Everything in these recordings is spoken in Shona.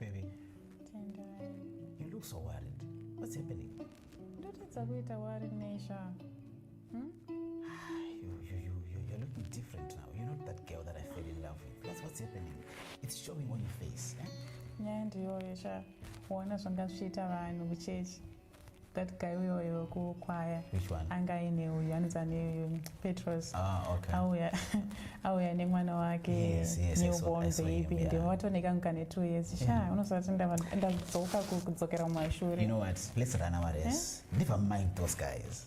Baby. Tendai. You look so worried. What's happening? Ndotadza kuita worry Nesha. Hmm? You, you, you, you, you're looking different now. You're not that girl that I fell in love with. That's what's happening. It's showing on your face. Eh? Nyaya ndiyoyo sha. Kuona zvanga zvichiita vanhu kuchechi. that guy uyo wekukwaya anga aine uyu anonzi ane petros ah, auya nemwana wake newborn baby ndimo vatoneka nguka netwo years sha mm-hmm. unozvati ndadzoka kudzokera mumashure ndivamind those guys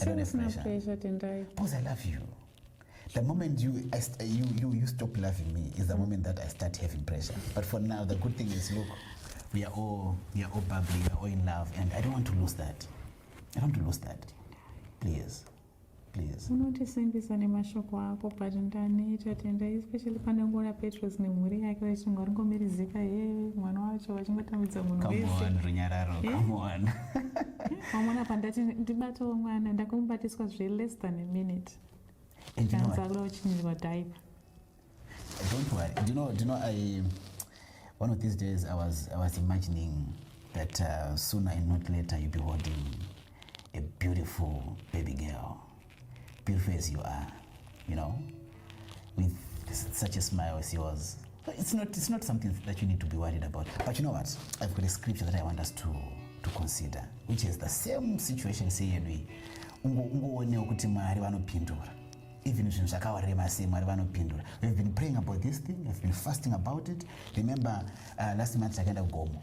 I don't have pressure. pressure Tendai. Because I love you. The moment you, I, you, you, you stop loving me is the moment that I start having pressure. But for now, the good thing is, look, we are all, we are all bubbly, we are all in love, and I don't want to lose that. I don't want to lose that. Please. Please. unotisimbisa nemashoko ako but ndaneta tendai especially pane nguona petros nemhuri yake vachinge varingomirizika he mwana wacho vachingotambidza munhu wese runyararo come on wamwana apa ndati ndibatawo mwana ndakamubatiswa zve less than a minute kanzakula uchinirwa daipa don't worry do you know, do you know I, one of these days I was, I was imagining that uh, sooner and not later you'll be holding a beautiful baby girl beautiful as you are you know with such a smile as yours it's not, it's not something that you need to be worried about but you know what i've got a scripture that i want us to, to consider which is the same situation seyedu iyi ungoonewo kuti mwari vanopindura even zvinhu zvakawarema sei mwari vanopindura we've been praying about this thing we've been fasting about it remember uh, last month takaenda kugomo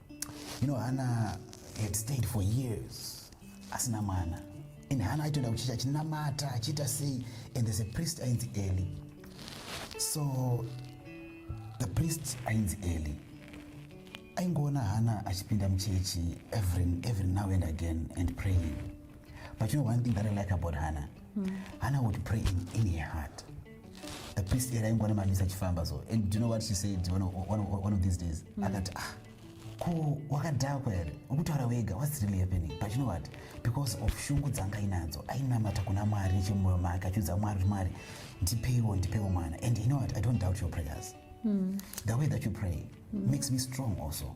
you know hana had stayed for years asina mwana and hana aitoenda kuchechi achinamata achiita sei and there's a priest ainzi eli so the priest ainzi eli aingoona hana achipinda muchechi every, every now and again and praying but you know one thing that i like about hana mm. hana would pray in, in her heart the priest era ingona mamisa achifamba so and do you know what she said one of, one of, one of these days mm. akati ah ko wakadhakwa here ukutaura wega whats really happening but you know what because of shungu dzanga inadzo ainamata kuna mwari nechemwoyo make achiudza mwari kuti mwari ndipeiwo ndipeiwo mwana and you know what i don't doubt your prayers mm. the way that you pray mm. makes me strong also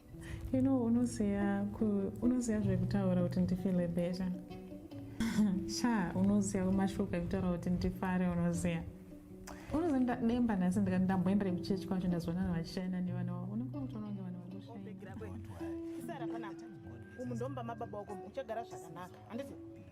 you know unoziva unoziva zvekutaura kuti ndifile better sha unoziva kumashoko ekutaura kuti ndifare unoziva unoziva ndademba nhasi ndikati ndamboenderei kuchechi kwacho ndazoona na vachishayina nevana vavo unenge wakutoona kunge vanhu vanoshaisara panapa umu ndomba mababa wako uchagara zvakanaka handiti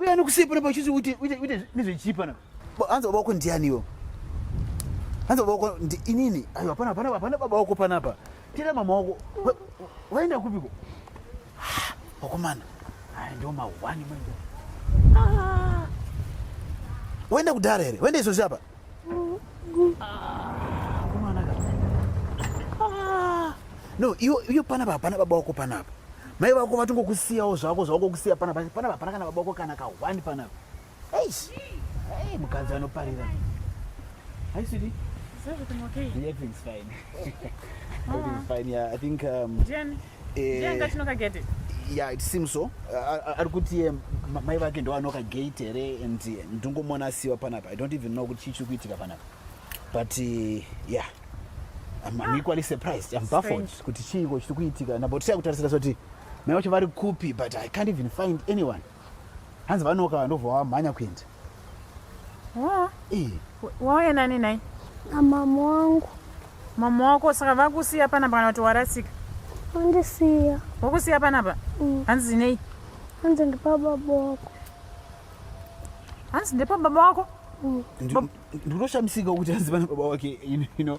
Uya nokusei pano pachisi uite uite uite nezvechipa na. Hanzi baba wako ndiani iwo? Hanzi baba wako ndi inini. Ayo hapana hapana hapana baba wako panapa. Tira mama wako. Waenda kupiko? Wakomana. Hai ndio mawani manje. Ah. Waenda kudara here? Waenda izvozvi apa? no iyo iyo panapa hapana baba wako panapa mai vako vatongokusiyawo zvako zvawakokusiya panapa panapa hapana kana baba wako kana kahwani panapa eish hey, mukadzi anoparira hi sweetie Is everything okay? Yeah, everything's fine. everything's fine, yeah. I think um, Jenny. ndianga chinoka gate yeah it seems so ari kuti ye mai vake ndovanoka gate here and ndingomona asiwa panapa i don't even know kuti chii chiri kuitika panapa but uh, yeah I'm, I'm ah. equally surprised I'm baffled kuti chiiko chiri kuitika nabotiya kutarisira kuti mai vacho vari kupi but I can't even find anyone hanzi vanoka vandobva wamhanya kuenda wauya nani nai amama wangu mama wako saka vakusiya panapa kana kuti warasika vandisiya wakusiya panapa mm. hanzi nei hanzi ndipababa wako hanzi ndepababa wako mm. ndinoshamisika kuti hanzi pana baba wake ino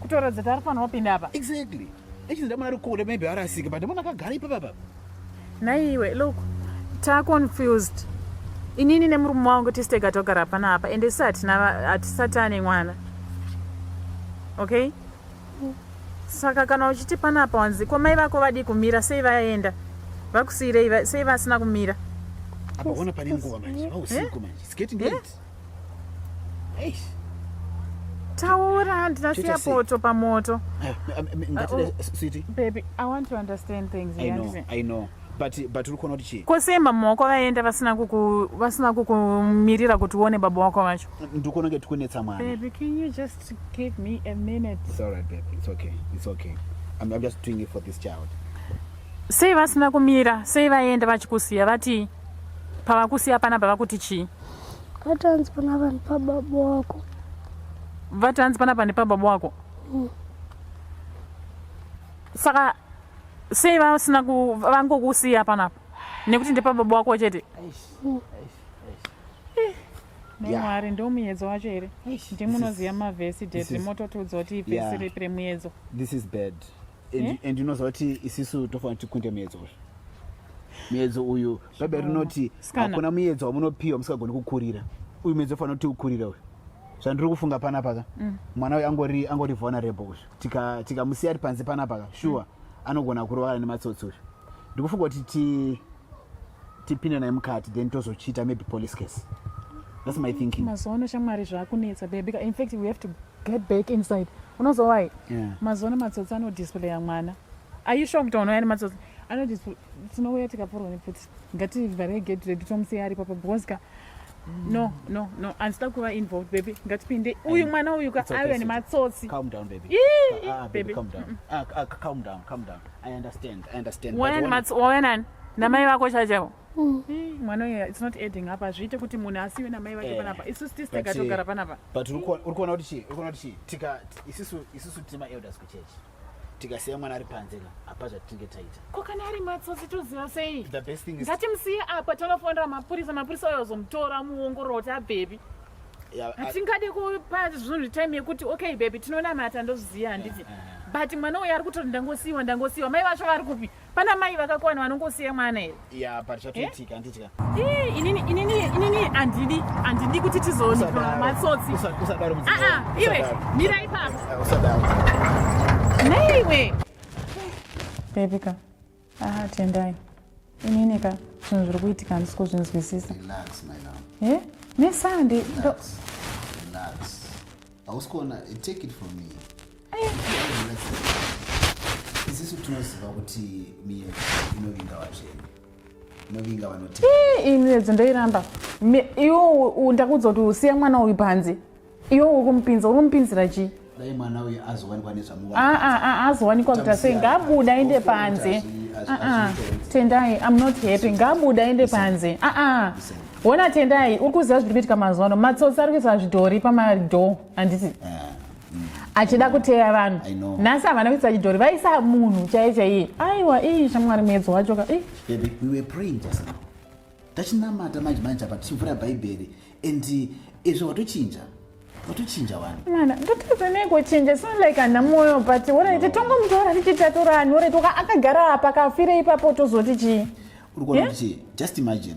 kutoratidza kuti ari kufanira kupinda apa exactly echinzi ndamona ari kure maybe arasike but ndamona akagara ipapa papa naiwe look taconfused inini nemurume wangu tistega togara pana apa ende si hatisati ane mwana okay saka kana uchiti pana apa wanzi ko mai vako vadii kumira sei vaenda vakusiirei sei vasina kumira apaona pane nguva manje vausiku manje sketi ndeti taura handina siya poto pamoto eh, eh, eh, ah, oh, baby i want to understand things I know, I know but but uri kuona kuti chii ko sei mama wako vaenda vasina kuku vasina kukumirira kuti uone baba wako vacho ndikuona kuti kunetsa mwana baby can you just give me a minute it's all right baby it's okay it's okay i'm, I'm just doing it for this child sei vasina kumira sei vaenda vachikusiya vati pavakusiya panapa vakuti chii Vatanzi pana vanhu pababa wako. Vatanzi pana pane pababa wako. Mm. Saka sei vasina ku vangokusiya panapa nekuti ndepababa wako chete. Mm. nemwari ndo muyedzo wacho here ndimunoziva mavhesi ded mototiudza kuti ivhesi ripi remuyedzo Eh? and unoziva kuti isisu tofanira kuti kunde muedzo uyu muedzo uyu bhaibheri rinoti hakuna muedzo wamunopiwa musingagoni kukurira uyu muedzo ufanira kuti ukurira uyu zvandiri kufunga panapaka mm. mwana uyu angori angori vulnerable uyu tikamusiya tika ari panze panapaka shuwa mm. anogona kurwara nematsotsi uyu ndikufunga kuti ti tipinde naye mukati then tozochiita maybe police case that's my thinking mazuva ano shamwari zvakunetsa baby in fact we have to get back inside unozowai yeah. mazuva ano matsotsi anodisplaya mwana aisho kutaona yani matsotsi anoti tinouya tikapfurwa nepfuti ngativhare gate redu tomusiya aripo pa because ka no no no andisida kuva involved baby ngatipinde uyu mwana uyu ka ave nematsotsi calm down baby Ii, ah, ah, baby calm down ah, ah, calm down calm down i understand i understand wayan mats wayan namai vako chachavo mm. mwana uyu it's not adding up azviite kuti munhu asiwe namai vake eh, panapa isusu tisi tikatogara eh, panapa but uri kuona kuti chii uri kuona kuti chii tika isusu isusu tima elders kuchechi tikasiya mwana ari panze ka apa zvatinge taita ko kana ari matsotsi toziva sei the best thing is ngatimusiye apa tonofonera mapurisa mapurisa oyo ozomutora muongororo kuti abvepi hatingade kupa zvinhu time yekuti okay bebi tinonamata ndozviziva handiti but mwana uyo ari kutori ndangosiyiwa ndangosiyiwa mai vacho vari kupi Pana mai vakakwana vanongosiya mwana here? Ya, but zvatoitika handitya. Eh, inini inini inini handidi handidi kuti tizoonekwa matsotsi. Usadaro muziki. Ah ah, iwe mira ipapo. Usadaro. Nei iwe. Baby ka. Ah, tendai. Inini ka zvinhu zviri kuitika handisi kuzvinzwisisa. Relax my love. Eh? Nesande. Relax. hausi kuona take it from me isisu tinoziva kuti miyedzo inovinga vatsvene inovinga vanoti iyi miyedzo ndoiramba iwo ndakuudza kuti usiye mwana uyu panze iwo uri kumupinza uri kumupinzira chii dai mwana uyu azowanikwa nezvamuazowanikwa kuti asei ngabuda aende panze tendai am not happy ngabuda aende panze aa Wona Tendai, uri kuziva zviri kuitika mazuva ano. Matsotsi ari kuisa zvidhori pamadhoo, handiti? Ah, mm. Achida kuteya vanhu. Nhasi havana kuisa chidhori, vaisa munhu chaiye chaiye. Aiwa, ii shamwari muedzo wacho ka. Baby, we were praying just now. Tachinamata manje manje apa tichivhura Bhaibheri and eh, izvo watochinja. Watochinja wani. Mwana, ndotadza nei kuchinja? Sound like ana moyo but wona ite tongomutora tichitatura anhu ore toka akagara apa kafire ipapo tozoti chii? Uri kuona kuti just imagine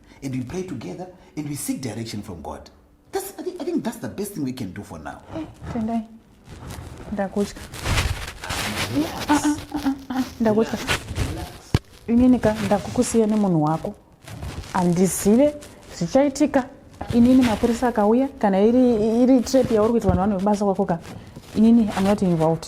and we pray together and we seek direction from god that's, I, think, i think that's the best thing we can do for now eh, tendai ndakutya ah, ah, ah, ndakutya ininika ndakukusiya nemunhu wako handizive zvichaitika inini mapurisa akauya kana iri, iri trap yauri kuita vanhu vanhu vebasa kwako ka inini i'm not involved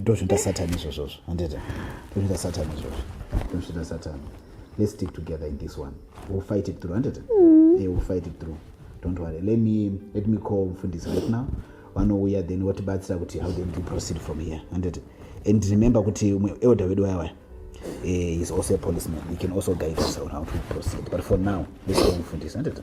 ndozvinoita satani izvozvozvo handita ndozvinoita satani izvozvo ndozvinoita satani let's stick together in this one we'll fight it through handita mm. yeah, we'll fight it through don't worry let me, let me call mfundisi right now vanouya then votibatsira kuti how then to proceed from here handita and remember kuti umwe elder wedu wayawaya eh, is also a policeman he can also guide us on how to proceed but for now let's go mfundisi handita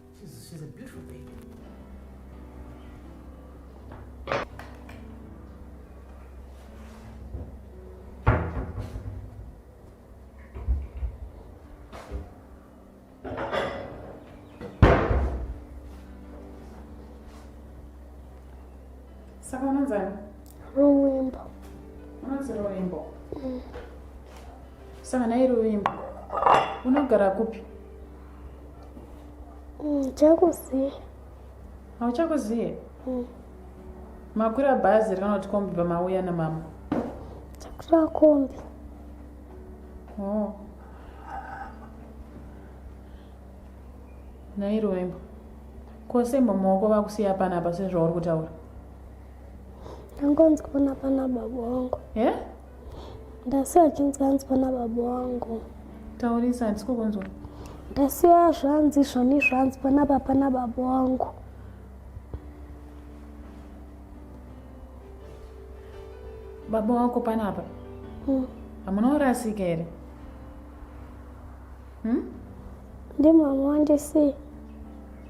She's, she's a beautiful baby. Saka unonzani? Ruwimbo. Unonzi ruwimbo? Mm. Saka naye ruwimbo. Unogara kupi? ndichakuziva hauchakuzive mm. makwira bhazi rikana kuti kombi pamauya namama takwira kombi oh. nairoembo kosembo maoko vakusiya panapa sezvauri kutaura angonzi kuona pana baba wangu e ndasiwa achinzi anzwa nababa wangu taurisa handisiko kunzwa ndasiwa zvanzi zvoni zvanzwa nababa nababa wangu baba wako panapa hmm. hamuna urasika here hmm? ndi mama wandisii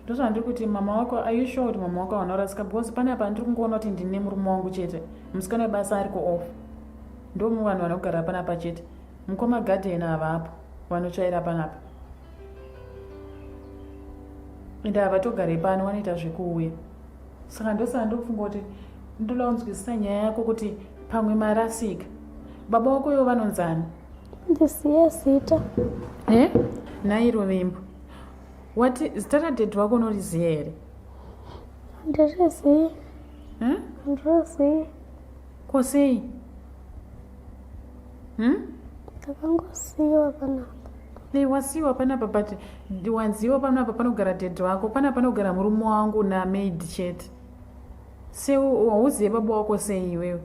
ndozvandiri kuti mama wako are you sure kuti mama wako vanorasika because pane apa ndiri kungoona kuti ndine murume wangu chete musikana webasa ariko off ndomu vanhu vanogara panapa chete mukoma garden havapo vanotsvaira panapa ende havatogare pano vanoita zvekuuya saka ndosaka ndokufunga kuti ndoda kunzwisisa nyaya yako kuti pamwe marasika baba wako ivo vanonzani ndisiye zita e eh? nhai rovimbo wati zita radhedhi wako unoriziva here ndirizivi eh? ndirizivi ko sei hmm? ndakangosiyiwa panapa nei wasiyiwa panapa but wanziwa panapa panogara dhedhi wako pana panogara murume wangu namaid chete se wauzive baba wako sei iwewe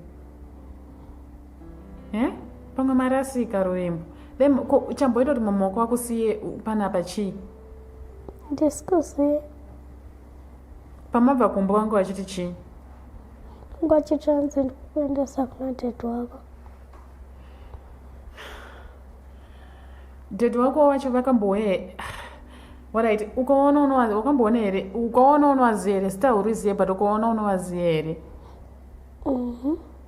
eh? pamwe marasika rurembo then uchamboita kuti mamaoko wako siye panapa chii ndisikuziye pamabva kumba wangu wachiti chii wangu achiti anzi ndikukuendesa kuna ded wako ded wako wacho vakambouye warit ukaona unowazi wakamboona here ukaona unowazi here sita huriziye but ukaona unowazi here mm -hmm.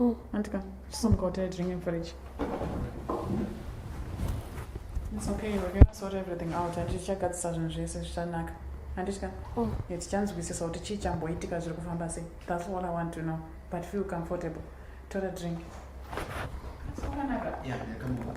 Oh. Antika, chisomuka utire drink in fridge. It's okay, we're gonna sort everything out. Handiti tichagadzisa zvinhu zvese zvichanaka. Handitya? Oh. Yeah, tichanzwisisa kuti chii chamboitika zviri kufamba sei. That's all I want to know. But feel comfortable. Tora drink. Zvakanaka. Yeah, yeah, come on.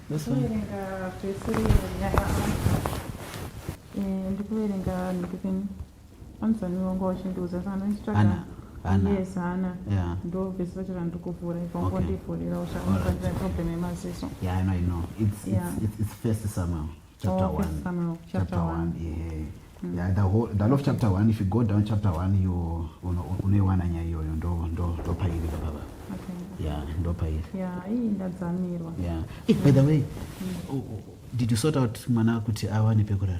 Ndikuverenga pese nyaya eh, ndikuverenga ndikupeni anzaniwonga wachindiudza saka ndochitsvaga yes hana ndo vese vachira ndikuvhura ipapo ndivhurira uchakuaira problem yemaziso yeah, I know, I know. It's, yeah. it's, it's, it's first somehow chapter oh, 1 chapter, chapter 1, 1. Yeah. Mm. Yeah, the whole the of chapter 1 if you go down chapter 1 you unoiwana nyaya iyoyo ndo ndo ndo pairi baba okay. yeah ndo pairi yeah hii ndadzamirwa yeah hey, by the way mm. oh, oh, did you sort out mwana kuti awane pekurara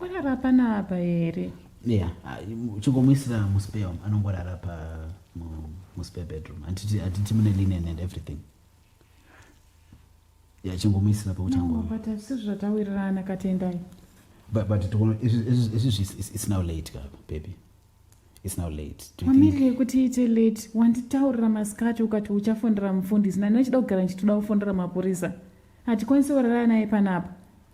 Warara panapa here? Yeah, chingomuisira muspare umu anongorara pa muspare bedroom. Hatiti hatiti mune linen and everything. Yeah, chingomuisira pakuti ango. But hazvisi zvatawirirana katendai. But but togona it's now late ka baby. It's now late. Wamire kuti ite late. Wanditaurira masikati ukati uchafonera mufundisi. Nani uchida kugara ndichitoda kufonera mapurisa. Hatikwanisi kurara naye panapa.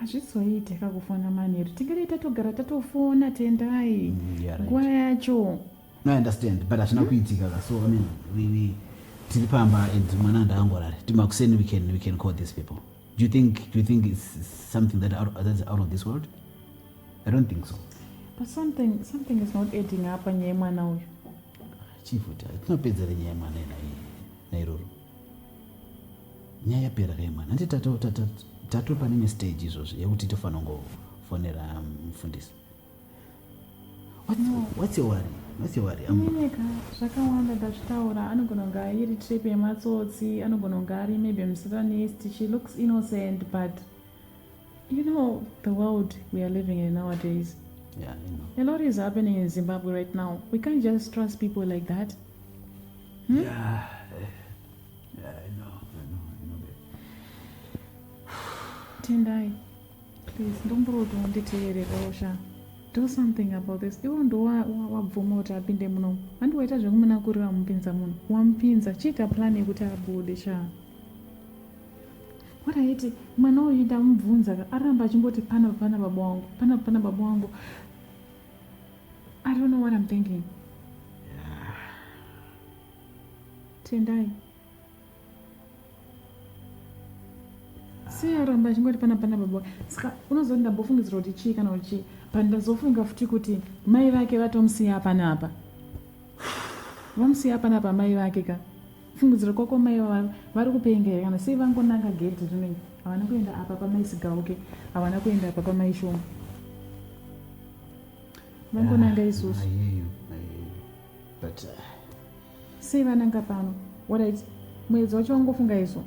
hazvizoite ka kufona manheru tingade tatogara tatofona tendai mm, nguva yacho no understand but hazvina kuitika ka so i mean we, we tiri pamba and mwana ndaangorari timakuseni we can, we can call these people do you think, do you think it's something that out, that's out of this world i don't think so but something, something is not adding up nyaya yemwana uyu chief tinopedzere nyaya yemwana inaiyi nairoro nyaya yapera rema nhanti tato pane imwe stage izvozvi yekuti tofanira kungofonera um, mufundisi watsiwariineka zvakawanda ndazvitaura anogona kunge airi trip yematsotsi anogona kunge ari maybe musatanist she looks innocent but You know, the world we are living in nowadays, yeah, I know. a lot is happening in Zimbabwe right now. We can't just trust people like that. Hmm? Yeah, eh, yeah, I know, I know, I know that. Tendai, please, don't bro, don't deteriorate, Rosha. Do something about this. Ivo ndo wabvuma kuti apinde muno. Handi waita zvekumunakurira wamupinza muno. Wamupinza, chiita plan yekuti abude shaa. What I hate, mwana uyu ndamubvunza aramba achingoti pana pana baba wangu, pana pana baba wangu. I don't know what I'm thinking. Tendai. Sei aramba achingoti pana pana baba wangu. Saka unozoti ndambofungidzira kuti chii kana kuti chii. But ndazofunga futi kuti mai vake vatomusiya panapa. Vamusiya panapa mai vake ka. Fungidzira kwako mai vava vari kupenga here kana sei vangonanga gedhi rinoi havana kuenda apa pamai sigauke havana kuenda apa pamai shoma vangonanga ah, isusu but uh, sei vananga pano orit mwedzi wacho wangofunga isu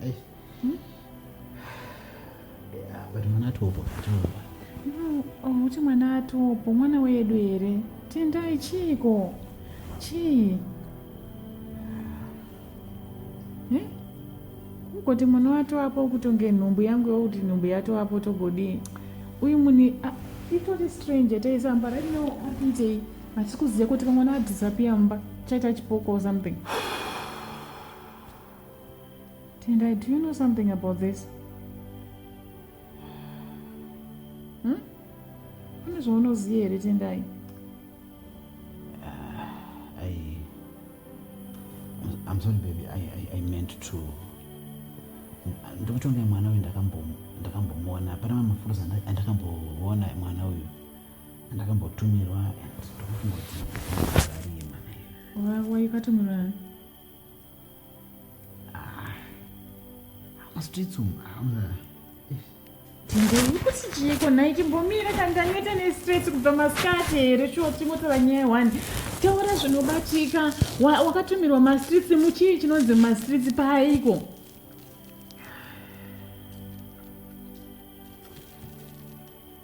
Hey. Hmm? Yeah, but mwana atopo atopo. No, umuti oh, mwana atopo mwana wedu here? Tendai chiiko? Chii? Eh? Kungoti mwana watovapo kutonge nhumbu yangu yokuti nhumbu yatovapo togodii? Uyu muni ah, itori stranger taisamba right now akuitei? Hatisi kuziva kuti kamwana adhisapiya mumba chaita chipoko or something. Tendai, do you know something about this? Hmm? Pane zvaunoziva here Tendai? Uh, I, I'm sorry baby, I, I, I meant to ndikutonge mwana uyu ndakambomuona pana mafurusa andakamboona mwana uyu andakambotumirwa and ndokufunga kuti arima waivatumira ndikuti chiiko nhai chimbomira kanganeta nestress kubva masikati here shuwa tichimotora nyaya one taura zvinobatika wakatumirwa mastreets muchii chinonzi mastreets paaiko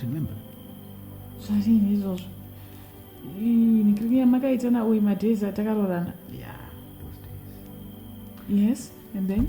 remember zvarini izvozvo nikiriki yamakaita nauyu madays atakaroorana yeah, those days. yes and then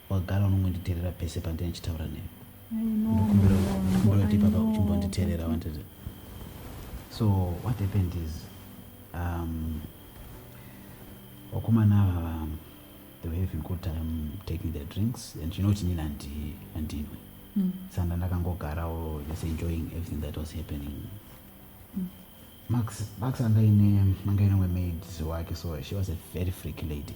wagara unongonditerera pese pandine ndichitaura newe ndokumbira kuti papa uchimbonditerera wanted so what happened is um, wakomana ava um, they were having good time taking their drinks and you know kuti nini handinwe mm. sanda ndakangogarawo just enjoying everything that was happening mm. max max angaine angaine wemaid wake so she was a very freaky lady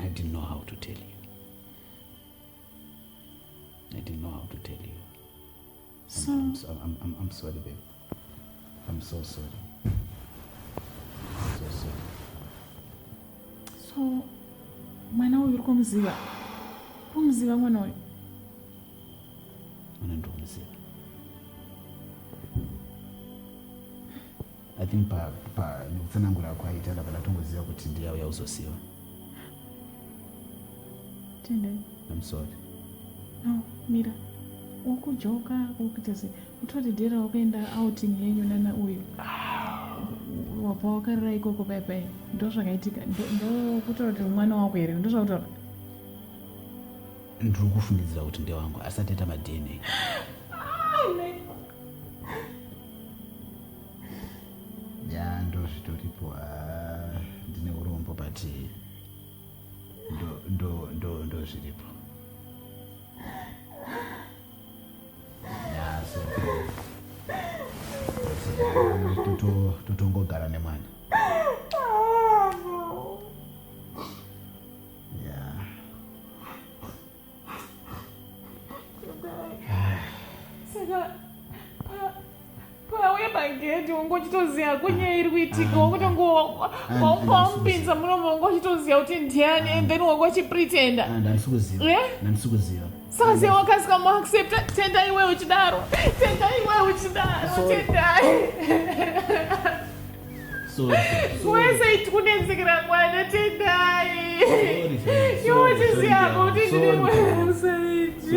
I didn't know how to tell you. I didn't know how to tell you. So I'm, I'm, I'm, I'm sorry, babe. I'm so sorry. I'm so sorry. So mwana uyu uri kumuziva kumuziva mwana uyu I think pa, pa nekutsanangura kwaita ndabva ndatongoziva kuti ndiye auya kuzosiva. Tendai. I'm sorry. No, mira. Ukujoka ukuita sei? Utoti dera wakaenda outing yenyu nana uyu. Wabva wakarira ikoko pai pai. Ndozvakaitika. Ndokutaura kuti mwana wako here? Ndozvakutaura. Ndiri kufungidzira kuti ndewangu asati aita maDNA. ya ndozvitoripo ah, ndine urombo but ndozviripo totongogara nemwana magedhi wanga uchitoziva kunyaya iri kuitika wakutongowaupinza muromo wanga uchitoziva kuti ndiani and then wanga uchipretenda ah, ndandisikuziva saka se wakasika muaccepta tenda iwe uchidaro tenda iwe uchidaro tendai wese kunetsekera kwana tendai iwochiziyapo kuti ndiri wese iti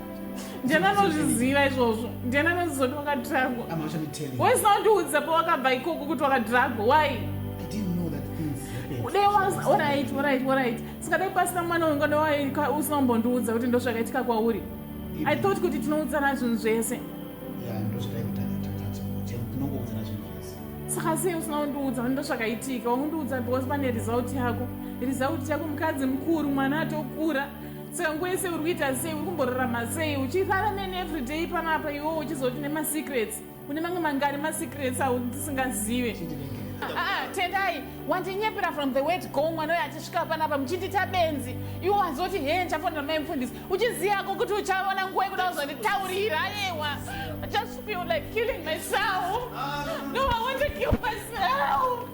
ndiani anozviziva izvozvo ndiani anozizoti wakadhiragwa wese wandiudza pawakabva ikoko kuti wakadhiragwa why singadai pasina mwana uyu ngadai usina kumbondiudza kuti ndozvakaitika kwauri i thought kuti tinoudzana zvinhu zvese saka sei usina kundiudza kuti ndozvakaitika wakundiudza because pane result yako result yako mukadzi mukuru mwana atokura Tsangwese uri kuita sei uri kumborarama sei uchirara neni everyday panapa iwo uchizoti nemasecrets une mamwe mangani masecrets autisingazive ah, ah, tendai wandinyepera from the wet go mwana uyo achisvika panapa muchindita benzi iwo wazoti hee ndichafonera mai mufundisi uchiziyako kuti uchaona nguva yekuda kuzonditaurira ayewa i just feel like killing myself no i want to kill myself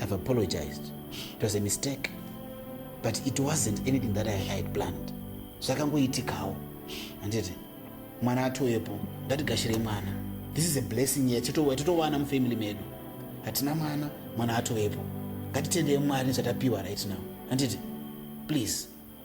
I've apologized. It was a mistake. But it wasn't anything that I, I had planned. Zvakangoitikawo. Handiti mwana atoyepo ngatigashire mwana. This is a blessing yet totowana mufamily medu. Hatina mwana, mwana atoyepo. Ngatitendeye Mwari nezvatapiwa right now. Handiti please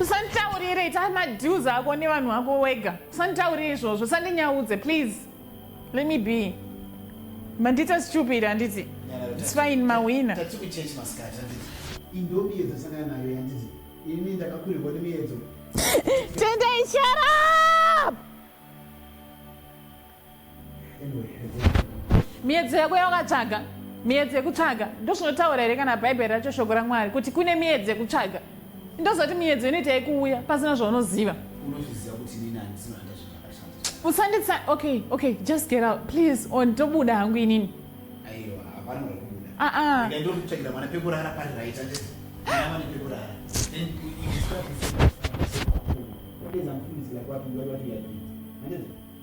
usanditaurire ita madeals ako nevanhu vako wega usanditaurire izvozvo usandinyaudze please let me be mandita stupid handiti its fine mawina tendai shut up miedzo yako yawakatsvaga miedzo yekutsvaga ndozvinotaura here kana bhaibheri racho shoko ramwari kuti kune miedzo yekutsvaga ndozoti miedzo inoita yekuuya pasina zvaunoziva usanditsa okay okay just get out please on tobuda hangu inini aa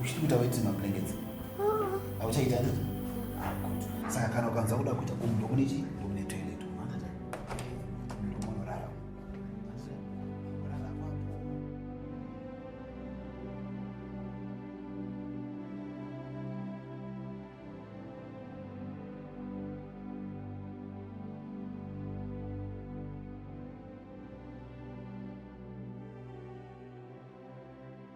Uchiti kuita weti mablankets. Ah. Auchaita ndi. Ah good. Saka kana ukanza kuda kuita kumba ndokune chi? Ndokune toilet.